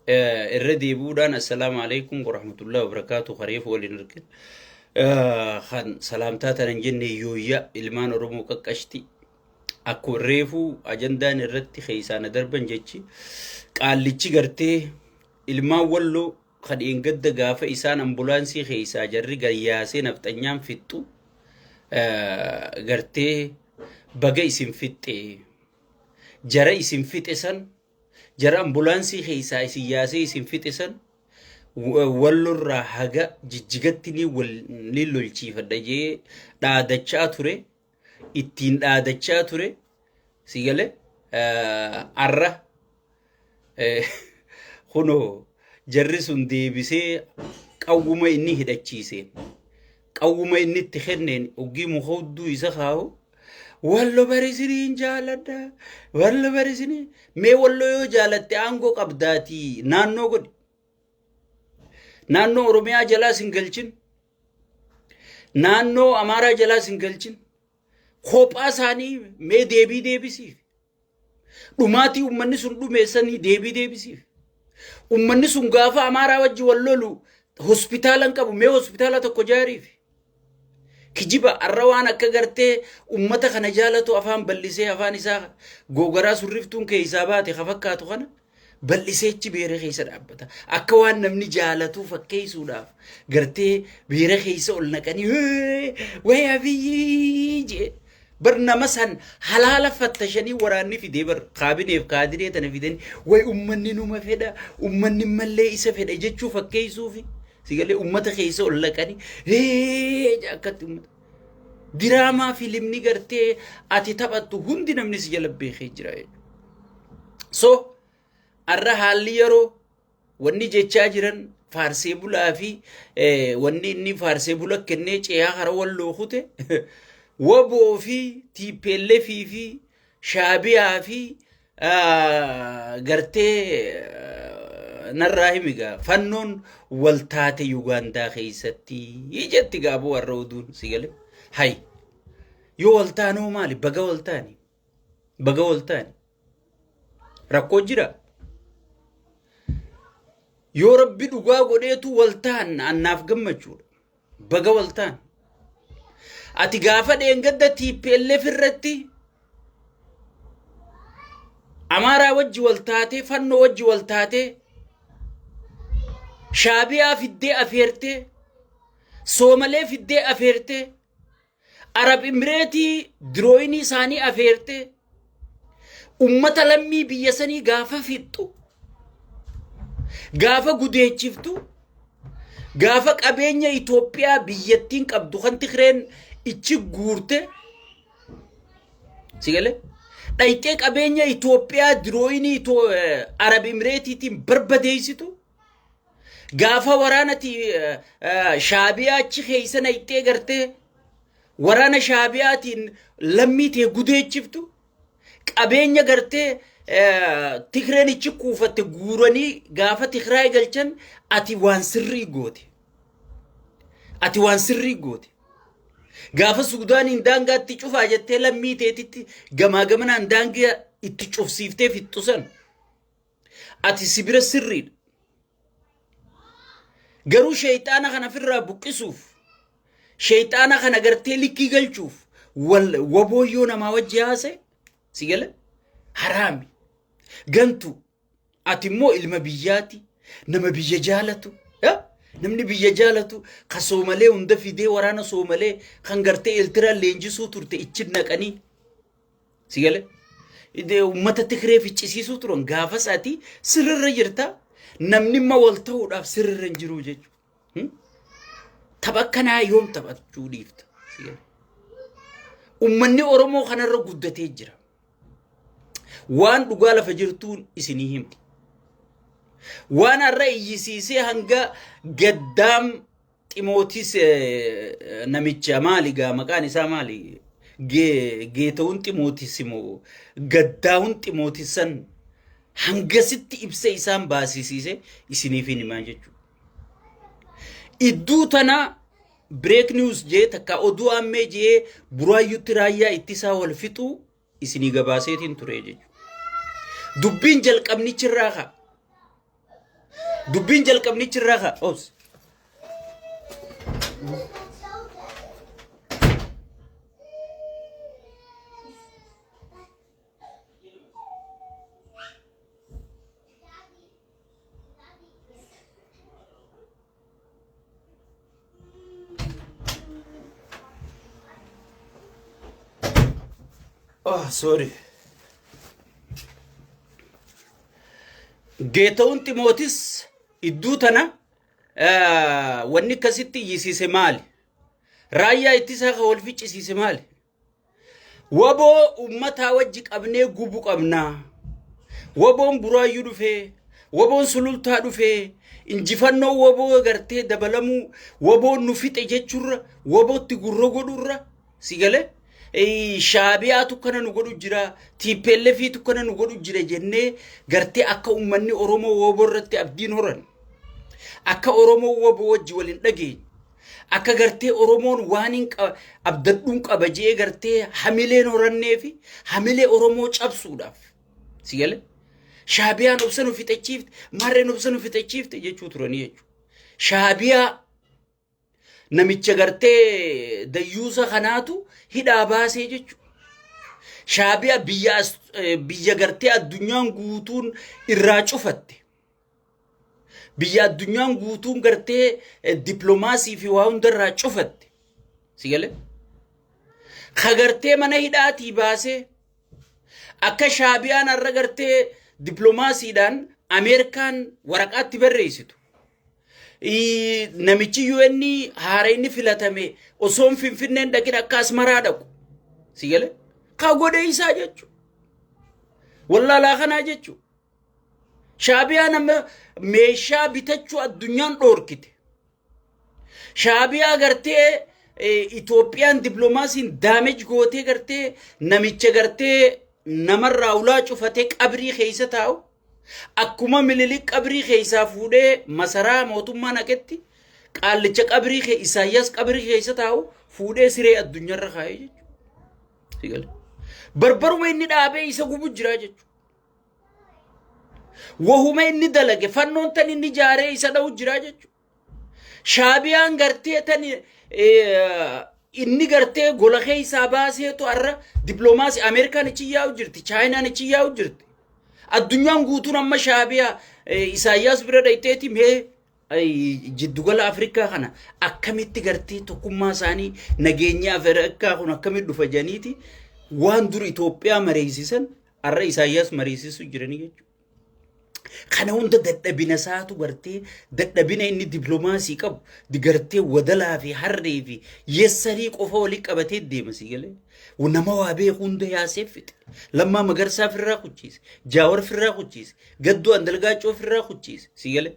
irra deebi'uudhaan assalaamu alaikum warahmatullahi wabarakaatu kareef waliin arge kan salaamtaa tanan jenne yooyya ilmaan oromoo qaqqashti akkuma reefuu ajandaan irratti keessaana darban jechi qaallichi gartee ilmaan walloo kan dheengadda gaafa isaan ambulaansii keessaa jarri gayyaasee nafxanyaan fixxu gartee baga isin fixxee jara isin fixe san Jara ambulaansii keessaa isin yaasee isin fixe san wallorraa haga jijjigatti ni wal ni lolchiifadha jee dhaadachaa ture ittiin dhaadachaa ture si gale arra kunoo jarri sun deebisee qawwuma inni hidhachiiseen qawwuma inni itti kenneen oggii muka hudduu isa kaa'u wallo barisiniin jaaladha wallo barisinii mee wallo yoo jaalatte aangoo qabdaatii naannoo godhi naannoo oromiyaa jalaa sin galchin naannoo amaaraa jalaa sin galchin kophaa isaanii mee deebii deebisiif Dhumaatii ummanni sun dhumeessanii deebii deebisiif. Ummanni sun gaafa amaaraa wajji wal lolu hospitaala hin qabu mee hospitaala tokko jaariif. Kijiba arra waan akka gartee ummata kana jaalatu afaan ballisee afaan isaa googaraa surriftuun keessaa baate ka fakkaatu kana bal'iseechi beera keessa dhaabbata. Akka waan namni jaalatuu fakkeessuudhaaf gartee beera keessa ol naqanii "Hee, wayii abiyyii jee bar nama san halaala fattashanii waraanni fidee bar kaabineef kaadiree tana fidanii way ummanni numa fedha ummanni mallee isa fedha jechuu fakkeessuufi sigalee ummata keessa ol naqanii "Hee" jee akkatti ummata. Diraamaa filimni gartee ati taphattu hundi namni si jala beekee jira jechuudha. So arra haalli yeroo wanni jechaa jiran faarsee bulaa fi eh, wanni inni faarsee bula kennee ceeyaa hara walloo kute waboo fi tiippeellee fi fi shaabiyaa fi Ah, gartee ah, narraa himi gaa fannoon wal taate Yugaandaa keessatti jetti gaa boo warra oduun si gale hay yoo wal taanoo maali baga wal taani baga wal taani rakkoo jira yoo rabbi dhugaa godheetu wal taanna annaaf gammachuudha Baga waltaan. Ati gaafa dheengadda TPLF irratti Amaaraa wajji waltaatee, fannoo wajji waltaatee, shaabiyaa fiddee afeertee, soomalee fiddee afeertee, Arab Imireetii dirooyinii isaanii afeertee ummata lammii biyya sanii gaafa fixxu, gaafa gudeechiftu, gaafa qabeenya Itoophiyaa biyyattiin qabdu kan Tigreen ichi guurte sigale dhayxee qabeenya Itoophiyaa dirooyinii Itoo- eh, Arab Imireetiitiin barbadeessitu Gaafa waraanati shaabiyaa achi keessa nayxee gartee waraana shaabiyaatiin lammii tee gudeechiftu qabeenya gartee Tigreen ichi kuufatte guuranii gaafa Tigraay galchan ati waan sirrii goote. Ati waan sirrii goote. Gaafa Suudaaniin daangaa itti cufaa jettee lammii teetitti gamaa gamanaan daangaa itti cufsiiftee fixxusan. Ati si bira sirriidha. Garuu sheeyxaana kana ofirraa buqqisuuf sheeyxaana kana gartee likkii galchuuf wal waboo yoo namaa wajji haase si gala haraami gantu ati immoo ilma biyyaati nama biyya jaalatu ya? namni biyya jaalatu ka soomalee hunda fidee waraana soomalee kan gartee eeltiraan leenjisuu turte ichi naqanii Si galee? Uummata Tigree ficcisiisuu turan gaafa isaatii sirrirra jirta namni immoo wal ta'uudhaaf sirrirra hin jiru jechuudha. Tapha akkanaa yoom taphachuu dhiifta? Si galee? Uummanni Oromoo kanarra guddatee jira. Waan dhugaa lafa jirtuun isinii himti. Waan har'a iyyisiisee hanga gaddaam Ximootis namicha maali gaa maqaan isaa maali? Geetawun Ximootis moo gaddaawun Ximootis san hangasitti ibsa isaan baasisiise isiniif hin himaa jechuudha. Idduu tana break news jee takka oduu ammee jee buraayyutti raayyaa ittisaa wal fixuu isinii gabaaseetiin ture jechuudha. Dubbiin jalqabnichi irraa ka'a. Dubbiin jalqabnichi irraa ka'a. Obs. Oh, sorry. Geetawun Ximootis idduu tana eh, wanni akkasitti iyyisiise maali? Raayyaa ittisaa kan wal ficcisiise maali? Waboo ummataa wajji qabnee gubu qabnaa. Waboon buraayyuu dhufee, waboon sulultaa dhufee, injifannoo waboo gartee dabalamuu, waboon nu fixe jechuurra, wabootti gurra godhurra, si galee? Shaabiyaatu kana nu godhu jira, TPLFiitu kana nu godhu jira jennee gartee akka ummanni Oromoo waboo irratti abdiin horan, akka Oromoo waboo wajji wal hin dhageenye, Akka gartee Oromoon waaniin abdadhuun qaba je'ee gartee hamileen horannee fi hamilee Oromoo cabsuudhaaf. Si gale? Shaabiyaan obsa nu fixachiifte, maarreen obsa nu fixachiifte jechuu turanii jechuudha. Shaabiyaa namicha gartee dayyuusa kanaatu hidhaa baasee jechuudha. Shaabiyaa biyya as- eh, biyya gartee addunyaan guutuun irraa cufatte. Biyya addunyaan guutuun gartee dippiloomaasii fi waa hundarraa cufatte. Si galee? Ka gartee mana hidhaatii baasee akka shaabiyaan har'a gartee dippiloomaasiidhaan Ameerikaan waraqaatti barreessitu. Namichi UN haara inni filatame osoo hin finfinneen dhaqin akka asmaraa dhaqu. Si galee? Ka godhe isaa jechuudha. Wallaalaa kanaa jechuudha. Shaabiyaan amma meeshaa bitachuu addunyaan dhoorkite. Shaabiyaa gartee Itoophiyaan diplomaasiin daameej gootee gartee namicha gartee namarraa ulaa cufatee qabrii keessa taa'u. Akkuma mililik qabrii keessaa fuudhee masaraa mootummaa naqetti qaallicha qabrii kee Isaayyaas qabrii keessa taa'u fuudhee siree addunyaarra kaa'ee jechuudha. Barbaruma inni dhaabee isa gubu jira jechuudha. Wahuma inni dalage fannoon tan inni jaaree isa dha'u jira jechuudha. Shaabiyaan gartee tan inni gartee gola keessaa baaseetu har'a dippiloomaasii Ameerikaan ichi yaa'u jirti, Chaayinaan ichi yaa'u jirti. Addunyaan guutuun amma shaabiyaa Isaayyaas bira dhayxeeti mee jiddugala Afrikaa kana akkamitti gartee tokkummaa isaanii nageenya Afrikaa kun akkamitti dhufa janiiti waan dur Itoophiyaa mareessisan Har'a Isaayyaas mariisisuu jiranii jechuudha. Kana hunda dadhabina isaatu gartee dadhabina inni diplomaasii qabu gartee wadalaa fi harree fi yessarii qofa walii qabatee deema si galee. Nama waa beeku hunda yaasee fixe. Lammaa magarsaa firraa kuchiise. Jaawar firraa kuchiise. Gaddoo andalgaacoo firraa kuchiise si galee.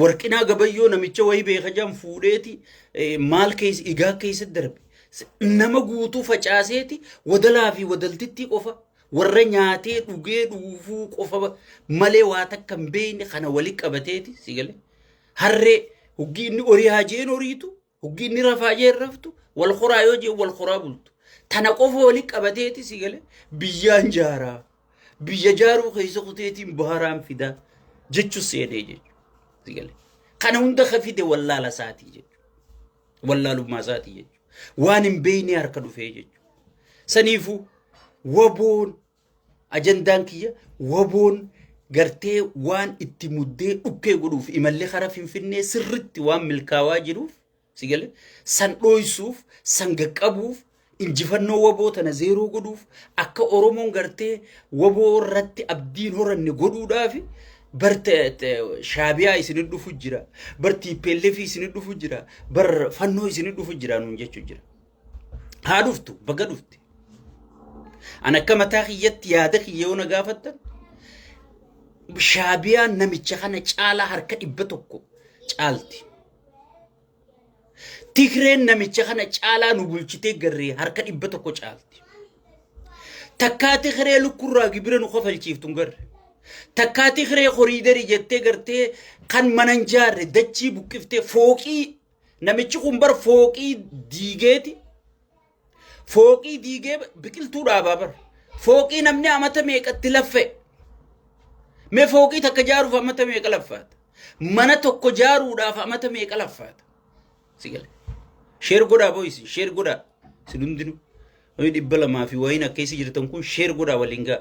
Warqinaa gabayyoo namicha wayii beeka jedhan fuudheeti eh, maal keessa igaa keessa darbe. S- Nama guutuu facaaseeti wadalaa fi wadaltittii qofa warra nyaatee dhugee dhuufuu qofa ba- malee waa takka hin beekne kana wali qabateeti si galee. Harree hoggii inni horii haa jeen horiitu Hoggi inni rafaa jee raftu wal horaa yoo jee wal horaa bultu. Tana qofa waliin qabateeti si galee biyyaan jaaraa. Biyya jaaruu keessa kuteetiin baharaan fidaa jechuun seenee jechuudha. Si galee. Kana hunda ka fide wallaala isaatii jechuudha. Wallaalummaa isaatii jechuudha. Waan hin beekne harka dhufee jechuudha. Saniifuu waboon Ajandaan kiyya waboon gartee waan itti muddee dhukkee godhuuf imallee karaa finfinnee sirritti waan milkaawaa jiruuf sigale san dhooysuuf san gaqqabuuf injifannoo waboo tana zeeroo godhuuf akka oromoon gartee waboo irratti abdiin horanne godhuudhaaf bar te- te- shaabiyaa isin dhufu jira bar tiippeelleefii isin dhufu jira bar fannoo isin dhufu jira nuun jechuu jira. Haa dhuftu baga dhufte. An akka mataa kiyyatti yaada kiyya yoo na gaafattan shaabiyaan namicha kana caalaa harka dhibba tokko caalti. Tigreen namicha kana caalaa nu bulchitee garree harka dhibba tokko caalti. Takkaa Tigree lukkurraa gibira nu kafalchiiftu hin garre. Takkaa Tigree koriidarii jettee gartee kan mana hin jaarre dachii buqqiftee fooqii Namichi kun bar fooqii diigeeti. Fooqii diigee biqiltuu dhaabaa bar. Fooqii namni amata meeqatti laffa'e. Mee fooqii takka jaaruuf amata meeqa laffaata? Mana tokko jaaruudhaaf amata meeqa laffaata? Si gale. Sheer godhaa boo'isin sheer godhaa. Isin hundinuu. Namni dhibba lamaa fi wayiin akka isin jirtan kun sheer godhaa waliin ga'a.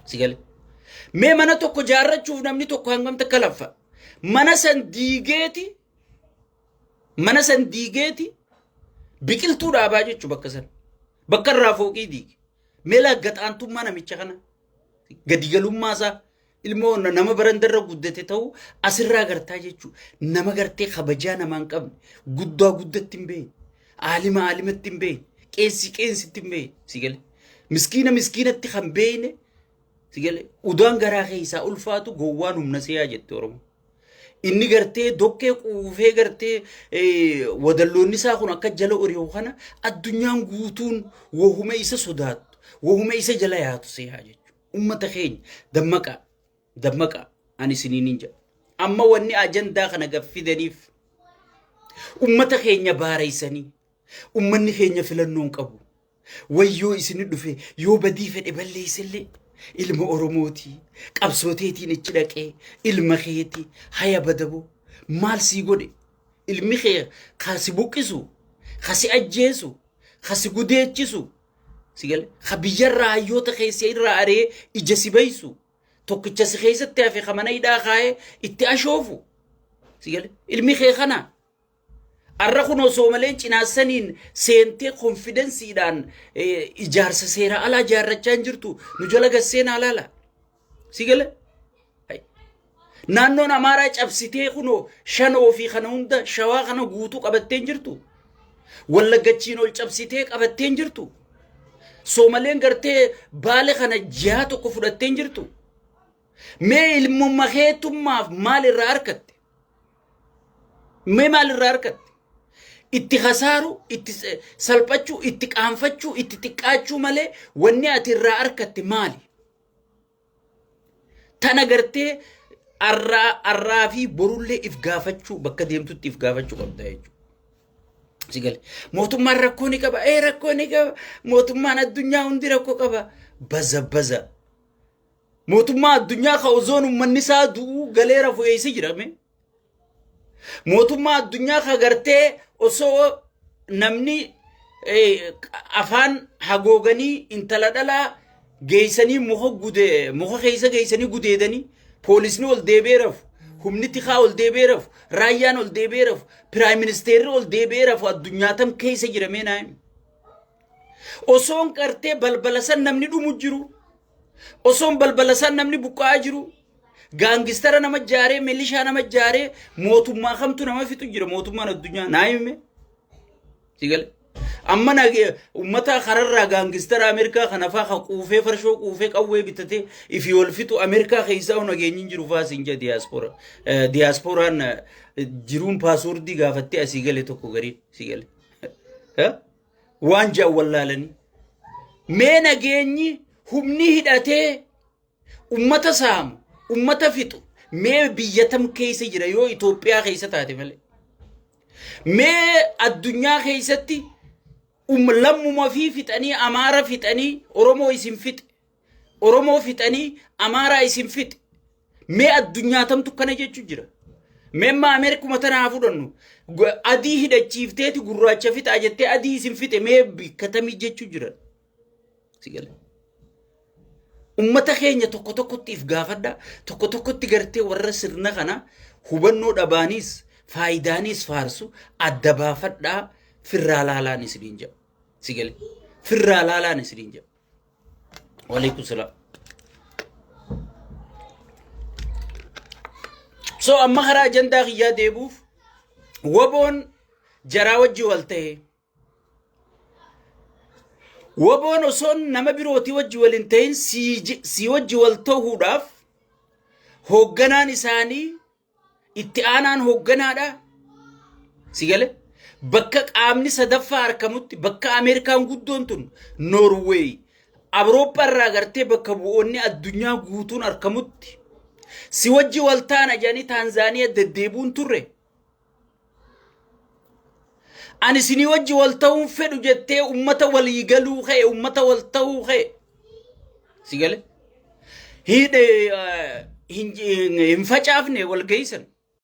Si gale. Mee mana tokko jaarrachuuf namni tokko hangam takka laffa. Mana san diigeeti mana san diigeeti biqiltuu dhaabaa jechu bakka san. Bakka irraa fooqii diige. Mee laaggaxaantummaa namicha kana. Gadigalummaa isaa. Ilmoo na- nama barandarra guddate ta'uu asirraa gartaa jechuudha. Nama gartee kabajaa namaa hin qabne. Guddaa guddatti hin beekne. Aalima aalimatti hin beekne. Qeessi qeessitti hin beekne. Si gale. Miskiina miskiinatti kan beekne. Si gale. Udaan garaa keessaa ulfaatu gowwaan humna seeyaa jette Oromoo. Inni gartee dokkee quufee gartee eh, wadalloonni isaa kun akka jala ori'u kana addunyaan guutuun wahuma isa sodaattu. Wahuma isa jala yaatu seeyaa jechuudha. Ummata keenya dammaqaa dammaqaa ani isiniinin jedha. Amma wanni ajandaa kana gad fidaniif ummata keenya baareessanii ummanni keenya filannoon qabu. Wayyoo isin dhufe yoo badii fedhe balleessellee ilma Oromooti qabsooteetiin ichi dhaqee ilma keeti haya badaboo maal sii godhe ilmi kee kasi buqqisu kasi ajjeesu kasi gudeechisu Sigale ka biyyarraa hayyoota keessa irraa aree ija si baysu tokkicha si keessatti hafe ka mana hidhaa kaa'ee itti ashoofu. Sigale ilmi kee kana arra kun osoo malee cinaassaniin seentee konfidensiidhaan ijaarsa seeraa alaa ijaarrachaa hin jirtu nu jala gasseen alaala. Si gale? Naannoon Amaaraa cabsitee kunoo shanoo fi kana hunda shawaa kana guutuu qabatteen jirtu. Wallaggachiin ol cabsitee qabatteen jirtu. Soomaleen gartee baale kana jihaa tokko fudhatteen jirtu. Mee ilmumma keetummaaf maal irraa argatte? Mee maal irraa argatte? Itti hasaaru, itti salphachuu, itti qaanfachuu, itti xiqqaachuu malee wanni ati irraa argatte maali? Tana gartee arraa arraa fi borullee if gaafachuu bakka deemtutti if gaafachuu qabda jechuudha. Si gale. Mootummaan rakkoo ni qaba. Ee rakkoo ni qaba. Mootummaan addunyaa hundi rakkoo qaba. Baza baza. Mootummaa addunyaa ka ozoon uummanni isaa du'uu galee rafu eessa jirame? mootummaa addunyaa ka gartee osoo namni eh, afaan hagooganii intala dhalaa geeysanii muka gude muka keeysa geeysanii gudeedanii poolisni ol deebee rafu humni tikaa ol deebee rafu raayyaan ol deebee rafu piraayim ministeerri ol deebee rafu addunyaa tam keeysa jiramee naayim osoon qartee balbala san namni dhumu jiru Osoon balbala isaan namni buqqa'aa jiru gaangistara nama jaaree milishaa nama jaaree mootummaa kamtu nama fixu jira mootummaan addunyaa naa hime. Sigale. Amma na uummata kararraa gaangistara Ameerikaa kana faa kan quufee farshoo quufee qawwee bitatee ifi wal fixu Ameerikaa keessaa nageenyi hin jiru faa siin jedha diyaaspora. Diyaasporaan jiruun paaswoordii gaafattee asii gale tokko garii sigale. waan jedhan wallaalanii mee nageenyi humni hidhatee ummata saamu ummata fixu mee biyya tam keessa jira yoo Itoophiyaa keessa taate malee mee addunyaa keessatti um lammuma fi fixanii amaara fixanii oromoo isin fixe Oromoo fixanii Amaaraa isin fixe. Mee addunyaatamtu kana jechu jira. Mee amma Ameerikuma tana haa fudhannu. Gu- Adii hidhachiifteeti gurraacha fixaa jettee adii isin fixe mee bikkatamii jechu jira. Si gala. Ummata keenya tokko tokkotti if gaafadha. Tokko tokkotti gartee warra sirna kana hubannoo dhabaanis faayidaanis faarsu adda baafadhaa firraa laalaan isiniin jedha. Si gala. Firraa laalaan isiniin jedha. Waalaikum salaam. So amma karaa ajandaa kiyyaa deebuuf waboon jaraa wajji wal ta'e. Waboon osoo nama birootii wajji wal hin ta'in sii wajji wal ta'uudhaaf hoogganaan isaanii Itti aanaan hoogganaadha. Si gale? Bakka qaamni sadaffaa argamutti bakka Ameerikaan guddoon tun Noorweey Awurooppaa irraa gartee bakka bu'oonni addunyaa guutuun argamutti si wajji waltaana jedhanii Taanzaaniyaa deddeebuun turre. Ani isinii wajji wal ta'uun fedhu jettee ummata walii galuu kee ummata wal ta'uu kee si gale hin facaafne wal geessan.